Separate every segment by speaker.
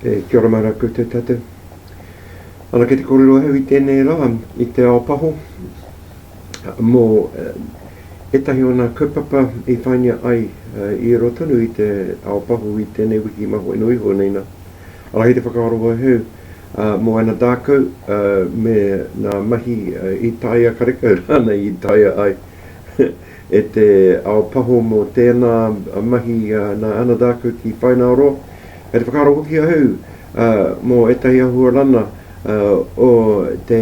Speaker 1: E kia ora mai rā koutou tātou. Ana kei te kōrero au i tēnei rā, i te ao paho, Mō ētahi o ngā kaupapa i whāingia ai i riro tonu i te ao pahū i tēnei wiki mā whai nui iho nei nā, arā hei te whakaaro wauheu mō ana dākau me ngā mahi i taea karekau rānei i taea ai e te ao pahū mō tēnā mahi nā ana dākau ki whaināoroa. Kei te whakaaro hoki ahau mō ētahi āhua rana o te.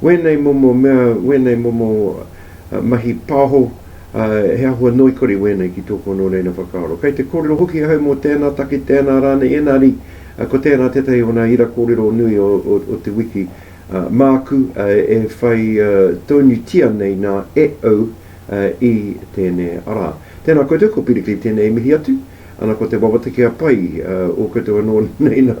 Speaker 1: Wēnei momo mea, wēnei momo mahi pāho, ā, he āhua noikore wēnei ki tōku anō reina whakaaro. Kei te kōrero hoki ahau mō tēnā take, tēnā rānei, ēnari, ā, ko tērā tētahi o ngā ira kōrero nui o, o, o te wiki, ā, māku, ā, e whai, ā, tōnutia nei nā e au, ā, i tēnei ara. Tēnā koutou, ko Piri Kei tēnei i mihi atu. Ana ko te wawata kia pai, ā, o koutou anō nei nā.